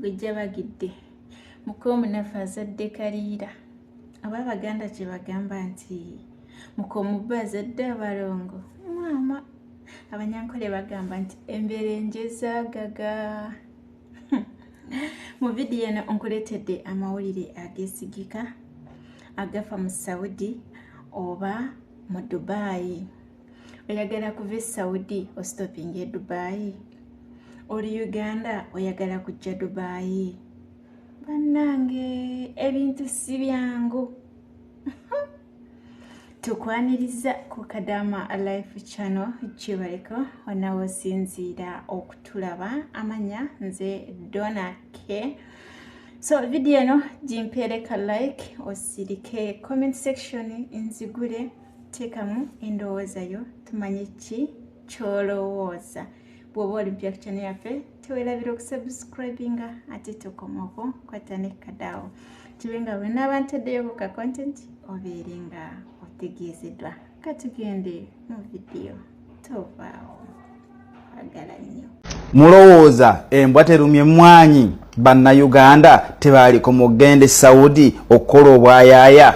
gwejjabagidde muka omunafu azadde kaliira aba abaganda kye bagamba nti muka omubba azadde abalongo maama abanyankole bagamba nti embeera enjezagaga mu vidiyo eno nkuleetedde amawulire agesigika agafa mu saudi oba mu dubaayi oyagala kuva esaudi ostopinga edubayi oli uganda oyagala kujja dubayi bannange ebintu si byangu tukwaniriza ku kadama life channel kibaliko onawe osinziira okutulaba amanya nze dona ke so vidiyo eno gimpeereka like osirike comment section nzigule teekamu endowooza yo tumanye ki kyolowooza bw'oba oli mpya ku kyana yaffe tewerabira okusubscribinga ate tokomoko kwata ne kadaawo kibe nga wena abantaddeyo ku ka content obeere nga otegeezeddwa katugende mu vidiyo mulowooza embwa terumye mwanyi bannayuganda tebaaliko mugende saudi okukola obwayaaya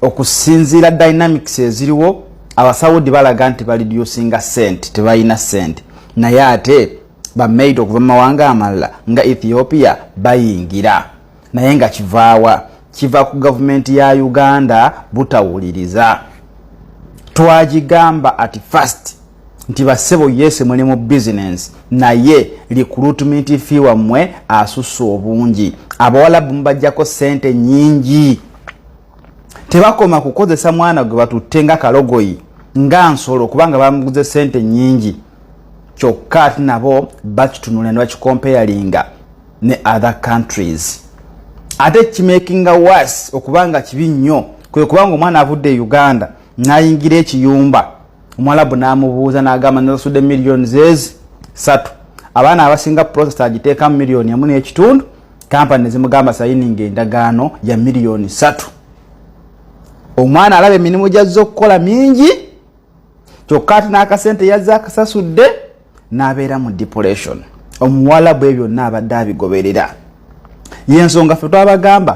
okusinziira dynamics eziriwo abasaudi balaga nti balidusinga sente tebalina sente naye ate bamaid okuva mu mawanga amalala nga ethiopia bayingira naye nga kivaawa kiva ku gavumenti ya uganda butawuliriza twagigamba at first nti basebo yese muli mu bizinensi naye likulutmenti fi wammwe asussa obungi abawalabu mubajjako sente nyingi tebakoma kukozesa mwana gwe batutte nga kalogoyi nga nsolo kubanga bamuguze sente nyingi kyokka ate nabo bakitunula ne bakikompeyalinga ne other countries ate kimakinga was okuba nga kibi nnyo kwe kubanga omwana avudde e uganda nayingira ekiyumba omuwalabu n'amubuuza n'agamba nasasudde miliyoni zezi satu abaana abasinga process agiteekamu miliyoni emu n'ekitundu kampani nezimugamba sayininga endagaano ya miliyoni satu omwana alaba emirimu gyazza okukola mingi kyokka ati n'akasente yazze akasasudde n'abeera mu depression omuwala bwe byonna abadde abigoberera yensonga fe twabagamba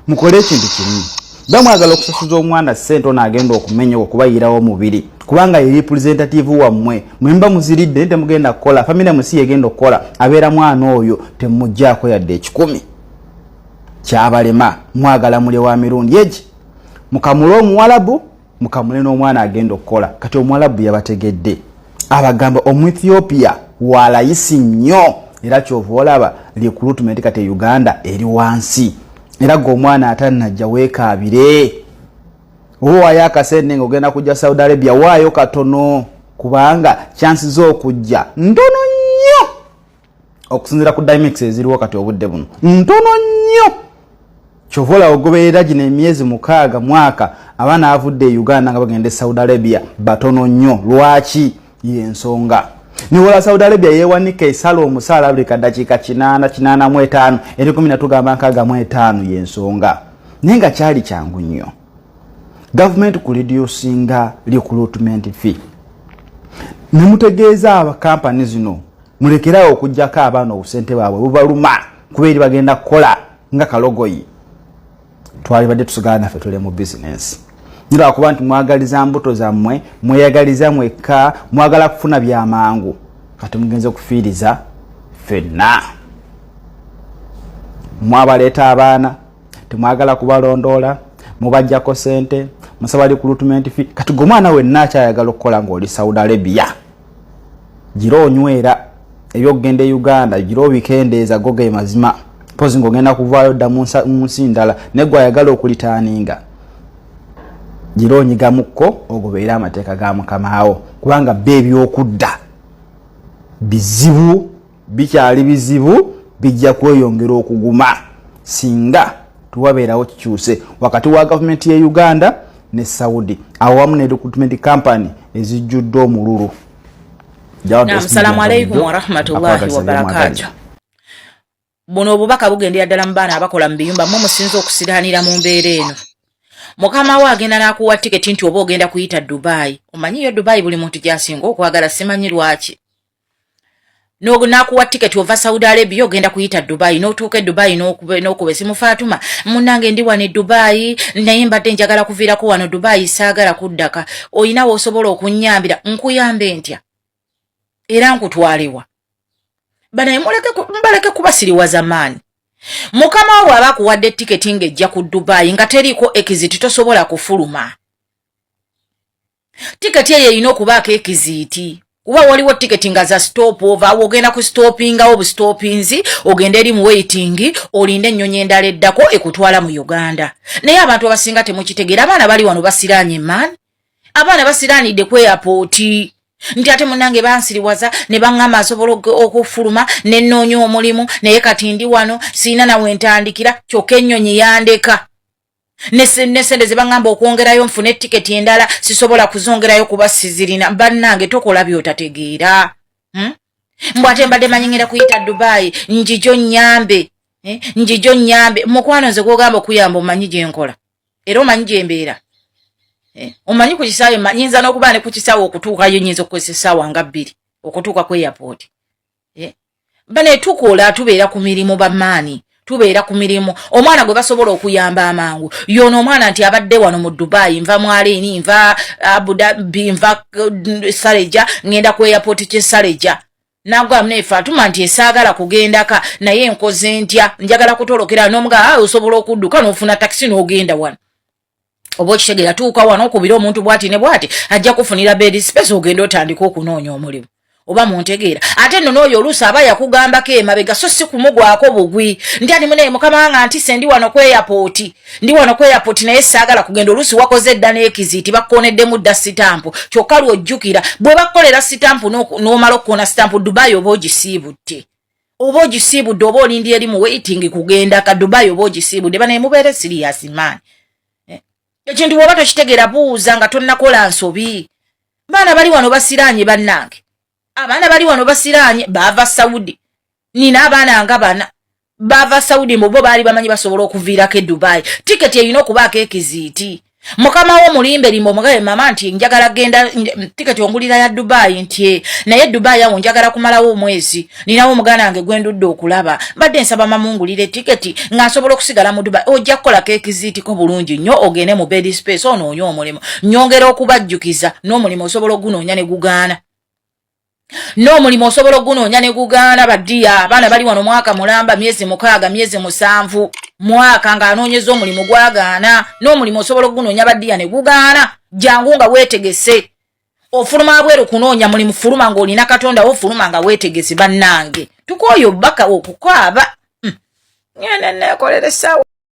mukole ekintu kimu bamwagala okusasuza omwana sente ono agenda okumenya okubayirawo omubiri kubanga ye representative wammwe mwemba muziridde naye temugenda kukola famire musi yegenda okukola abeera mwana oyo temujjaako yadde ekikumi kyabalema mwagala mulye wa mirundi egi mukamule omuwalabu mukamule n'omwana agenda okukola kati omuwalabu yabategedde abagamba omuethiopia walayisi nnyo era kyova olaba recruitment kati e uganda eri wansi era gwe omwana atanajja weekaabire oba waayo akasente nga ogenda kujja saudi arabia waayo katono kubanga chansi z'okujja ntono okusinzira ku dimex eziriwo kati obudde buno ntono nnyo kyova olaba ogoberera gino emyezi mukaaga mwaka abaana avudde e uganda nga bagenda e saudi arabia batono nnyo lwaki yensonga niwola saudi arabia yewanika esala omusaala buli kadakiika kinaana kinaana mu etaano eri kumi natugamba nkaaga mu etaano yensonga naye nga kyali kyangu nnyo gavumenti ku lediyo singa recruitment fee ne mutegeeza abakampani zino mulekerawo okugyako abaana obusente bwabwe bubaluma kuba eri bagenda kukola nga kalogoyi twalibadde tusigala naffe tuli mu bizinensi nilwakuba nti mwagaliza mbuto zammwe mweyagaliza mwekka mwagala kufuna byamangu kati mugenze okufiiriza fenna mwabaleeta abaana temwagala kubalondoola mubajjako sente musaba likulutumenti fi kati gwe omwana wenna akyayagala okukola ngaoli saudi arabia gira onywera ebyokugenda e uganda gira obikendeeza go ge mazima mpozi ngaogenda kuvaayo dda mu nsi ndala naye gwe ayagala okulitaaninga gira onyigamukko ogobeere amateeka ga mukamaawo kubanga be ebyokudda bizibu bikyali bizibu bijja kweyongera okuguma singa tewabeerawo kikyuse wakati wa gavumenti ye uganda ne saudi awamu ne recruitment company ezijjudde omululu salamu aleikum warahmatullahi wabarakatu buno obubaka bugendera ddala mu baana abakola mu biyumba mwe musinza okusiraanira mu mbeera eno mukama we agenda n'akuwa tiketi nti oba ogenda kuyita dubayi omanyiyo dubayi buli muntu gyasinga okwagala simanyi lwaki nakuwa ticket ova saudi arabia ogenda kuyita dubai notuuka edubai nokuba esimu fatuma munange ndi wano edubai naye mbadde njagala kuviirako wano dubai saagala kuddaka olina wosobola okunyambira nkuyambe ntya era nkutwalewa banaye mbaleke kuba siriwaza maani mukama wawe aba akuwadde tiketi ng'ejja ku dubai nga teriiko ekiziti tosobola kufuluma tiketi eyo erina okubaako ekiziiti kuba waliwo tiketi nga za stop ova awo ogenda ku stopingawo obustopinzi ogenda eri mu waitingi olinde ennyonyi endala eddako ekutwala mu uganda naye abantu abasinga temukitegeera abaana bali wano basiraanye man abaana basiraanidde ku eyapooti nti ate munange bansiriwaza ne baŋŋamba asobola okufuluma ne nnoonya omulimu naye kati ndi wano sirina nawe ntandikira kyokka ennyonyi yandeka nesente zebaŋamba okwongerayo nfune etiketi endala sisobola kuzongerayo kuba sizirina bannange tokola byotategeera hmm? mbwate mbadde manyengera kuyita dubayi njijo nyambe eh? njijo nyambe mukwano nze gwogamba okuyamba omanyi gyenkola era omanyi gyembeera eh? omanyi ku kisaawe nyinza n'okuba ne ku kisaawe okutuukayo nyinza okukozesa esaawa nga bbiri okutuuka ku eyapooti eh? bane tukola tubeera ku mirimu bamaani tubeera ku mirimu omwana gwe basobola okuyamba amangu yono omwana nti abadde wano mu dubai nva mwaleini nva abudabi nva uh, sareja ngenda ku airport kye sareja nagwamu nefe atuma nti esaagala kugendaka naye nkoze ntya njagala kutolokera nomuga ah, osobola okudduka nofuna takisi nogenda wano oba okitegera tuuka wano okubira omuntu bwati ne bwati ajja kufunira bedi sipesa ogenda otandika okunoonya omulimu oba muntegeera ate nno n'oyo oluusi aba yakugambako emabega so si kumugwako bugwi nti ani munaye mukama wanga ntise ndi wano ku eyapooti ndi wano ku eyapooti naye saagala kugenda oluusi wakoze edda n'ekiziiti bakkoneddemu dda sitampu kyokka lwojjukira bwe bakukolera sitampu n'omala okukoona sitampu dubayi oba ogisiibutte oba ogisiibudde oba olindi eri mu waiting kugenda ka dubai oba ogisiibudde banaye mubeere sirias maani eh? ekintu bwoba tokitegeera buuza nga tonnakola nsobi baana bali wano basiraanye bannange abaana bali wano basiraanye baava saudi nina abaana nga bana baava saudi mubo baali bamanyi basobola okuviirako e dubai tiketi erina okubaako ekiziiti mukama wo mulimbe limba omugabe mama nti njagala genda tiketi ongulira ya dubai nti eh, naye dubai awo njagala kumalawo omwezi ninawo omuganda wange gwendudde okulaba mbadde nsaba mamungulire tiketi nga nsobola okusigala mu dubai ojja kukolako ekiziitiko bulungi nnyo ogende mu bed space onoonye omulimu nyongera okubajjukiza n'omulimu osobola ogunoonya ne gugaana n'omulimu osobola ogunoonya ne gugaana badiya abaana bali wano mwaka mulamba myezi mukaaga myezi musanvu mwaka ng'anoonyeza omulimu gwagaana n'omulimu osobola ogunoonya badiya ne gugaana jangu nga weetegese ofuluma abweru kunoonya mulimu fuluma ng'olina katonda wo fuluma nga weetegese bannange tukooye obubaka okukaaba hmm. ngenda neekolera essaawa